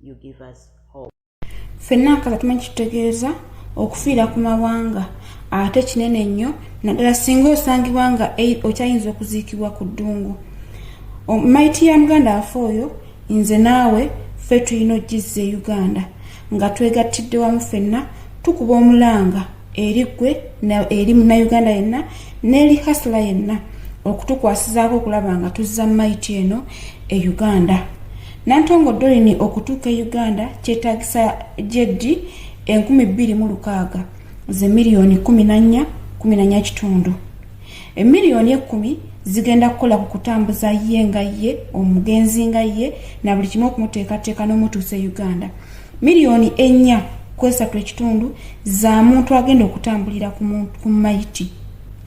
you give us hope fenna nkaza tumanyi kitutegeeza okufiira ku mawanga ate kinene nnyo naddala singa osangibwa nga okyayinza okuziikibwa ku ddungu maiti ya muganda afe oyo nze naawe ffe tulina okugizza e uganda nga twegattidde wamu fenna tukuba omulanga eri gwe eri munauganda yenna n'eri hasula yenna okutukwasizaako okulaba nga tuzza maiti eno e uganda nantongo dolini okutuuka e uganda kyetagisa jeddi enkumi bbiri mu lukaaga ze miliyoni kumi nannya kumi nannya kitundu emiliyoni ekkumi zigenda kukola ku kutambuza ye nga ye omugenzi nga ye na buli kimu okumuteekateeka n'omutuusa e uganda miliyoni ennya kwesatu ekitundu za muntu agenda okutambulira ku mayiti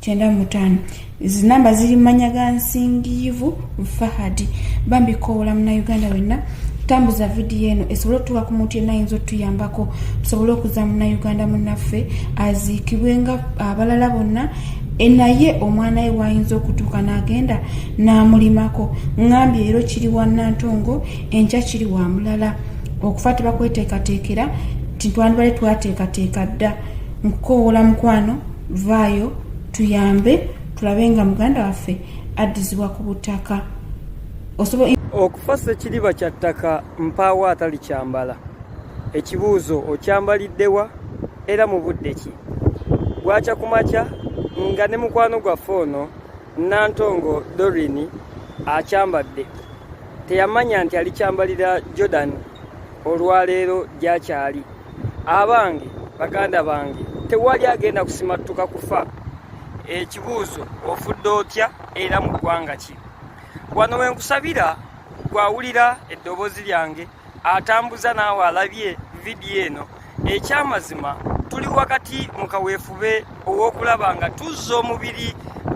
kyenda mutaano zinamba ziri mumanya ga nsingiivu fahadi bambi koola munauganda wenna tambuza vidiyo eno esobole otuuka ku muntu yenna ayinza otuyambako tusobole okuza munauganda munaffe aziikibwe nga abalala bonna e naye omwana we waayinza okutuuka n'agenda n'amulimako ngambye leero kiri wa nantongo enkya kiri wa mulala okufa tebakweteekateekera tintwandibale twateekateeka dda nkukowoola mukwano vaayo tuyambe tulabe nga muganda waffe addizibwa ku butaka okufa sekiriba kya ttaka mpaawo atali kyambala ekibuuzo okyambaliddewa era mu budde ki bwakya ku makya nga ne mukwano gwaffe ono nantongo dorini akyambadde teyamanya nti alikyambalira jordan olwaleero gyakyali abange baganda bange tewali agenda kusimattuka kufa ekibuuzo ofudde otya era mu ggwanga ki wano we nkusabira gwawulira eddoboozi lyange atambuza naawe alabye vidiyo eno ekyamazima tuli wakati mu kaweefube ow'okulaba nga tuzza omubiri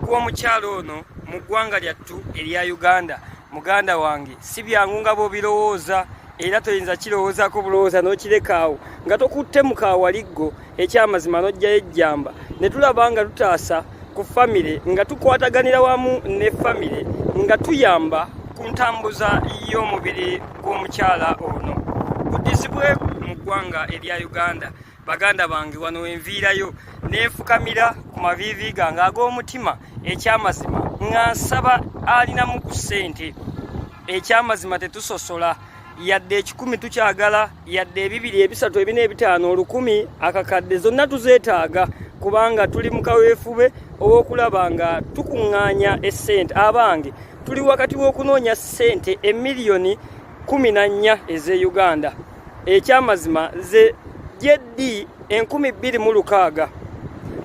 gw'omukyalo ono mu ggwanga lyattu erya uganda muganda wange si byangu nga bwobirowooza era toyinza kirowoozako bulowooza n'okirekaawo nga tokutte mukaawaliggo ekyamazima n'ojjayo ejjamba ne tulaba nga tutaasa ku famire nga tukwataganira wamu ne famire nga tuyamba ku ntambuza y'omubiri gw'omukyala ono buddizibwe mu ggwanga erya uganda baganda bange wano wenviirayo neefukamira ku maviivi gange ag'omutima ekyamazima nga nsaba alinamu ku ssente ekyamazima tetusosola yadde ekikumi tukyagala yadde ebibiri ebisatu ebina ebitaano olukumi akakadde zonna tuzeetaaga kubanga tuli mu kaweefube ow'okulaba nga tukuŋŋaanya essente abange tuli wakati w'okunoonya ssente emiliyoni kumi na nnya ez'e uganda ekyamazima ze jeddi enkumi bbiri mu lukaaga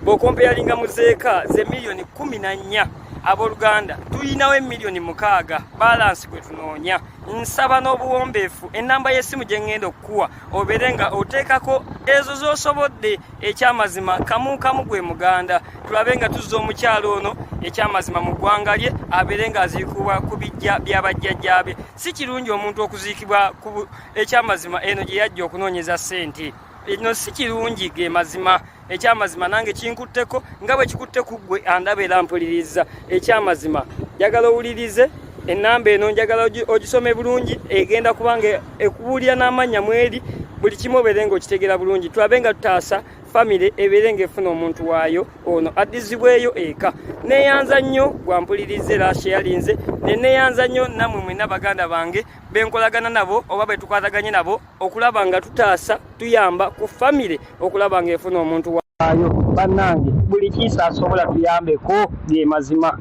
bw'okompeyalinga mu zeeka ze miliyoni kumi na nnya abooluganda tulinawo emiliyoni mukaaga balansi gwe tunoonya nsaba n'obuwombeefu ennamba y'essimu gye ŋŋenda okukuwa obeere nga oteekako ezo z'osobodde ekyamazima kamu kamu gwe muganda tulabe nga tuzza omukyalo ono ekyamazima mu ggwanga lye abeere ng'aziikuwa ku bijja byabajjajjaabe si kirungi omuntu okuziikibwa ku ekyamazima eno gye yajja okunoonyeza ssente eno si kirungi ge mazima ekyamazima nange kinkutteko nga bwe kikutte ku ggwe andaba era mpuliriza ekyamazima njagala owulirize enamba eno njagala ogisome bulungi egenda kubanga ekubuulira n'amannya mweri buli kimu obeere nga okitegeera bulungi tulabe nga tutaasa famire ebeere ng'efuna omuntu waayo ono addizibweyo eka neeyanza nnyo gwampuliriza era sheyalinze ne neeyanza nnyo nammwe mwena baganda bange benkolagana nabo oba betukwataganye nabo okulaba nga tutaasa tuyamba ku famire okulaba ng'efuna omuntu waayo bannange buli kiisa asobola tuyambeko ge mazima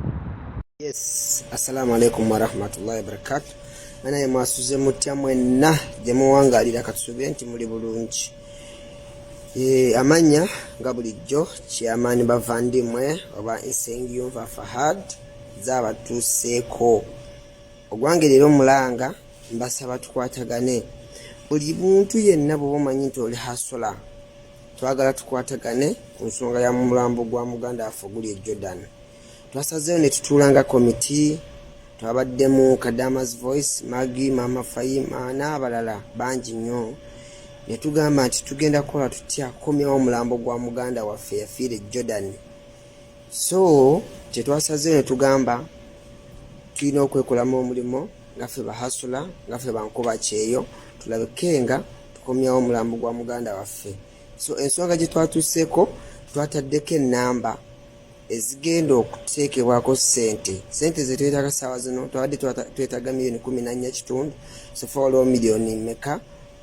yes assalamu alaikum warahmatullahi wabarakatu banaye mwasuze mutya mwenna gye muwangalira katusubire nti muli bulungi Eh, amannya nga bulijjo kyamaani bavandimwe oba nsengiyumva fahad zaabatuuseeko ogwange leero omulanga mbasaba tukwatagane buli muntu yenna bwoba omanyi nti oli hasola twagala tukwatagane ku nsonga ya mulambo gwa muganda waffe oguli e jordan twasazeewo ne tutuula nga komiti twabaddemu kadamas voice magi maama fayima n'abalala bangi nnyo ne tugamba nti tugenda kukola tutya kukomyawo omulambo gwa muganda waffe yafiira e jordan so kyetwasazeewo ne tugamba tulina okwekolamu omulimu nga ffe bahasula nga ffe bankuba kyeyo tulabike nga tukomyawo omulambo gwa muganda waffe so ensonga gye twatuuseeko twataddeko ennamba ezigenda okuteekebwako sente sente zetwetaga saawa zino twabadde twetaga miliyoni kumi nanya kitundu sofa waliwo miliyoni meka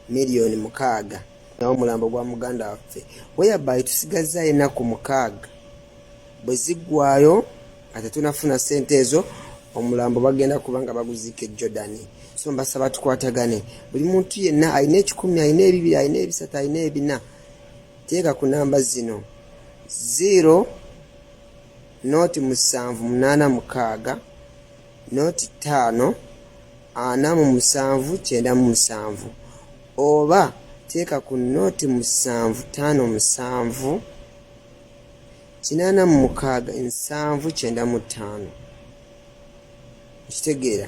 miliyoni mukaaga nawo omulambo gwa muganda waffe weyabayi tusigazza enaku mukaaga bwe ziggwayo nga tetunafuna sente ezo omulambo bagenda kuba nga baguziika e jordan so mbasaba tukwatagane buli muntu yenna alina ekikumi alina ebibiri alina ebisatu alina ebina Teeka ku namba zino 0 noti musanvu munaana mukaaga noti ttaano ana mu musanvu kyenda mu musanvu oba teeka ku noti musanvu ttaano musanvu kinaana mu mukaaga nsanvu kyenda mu ttaano okitegeera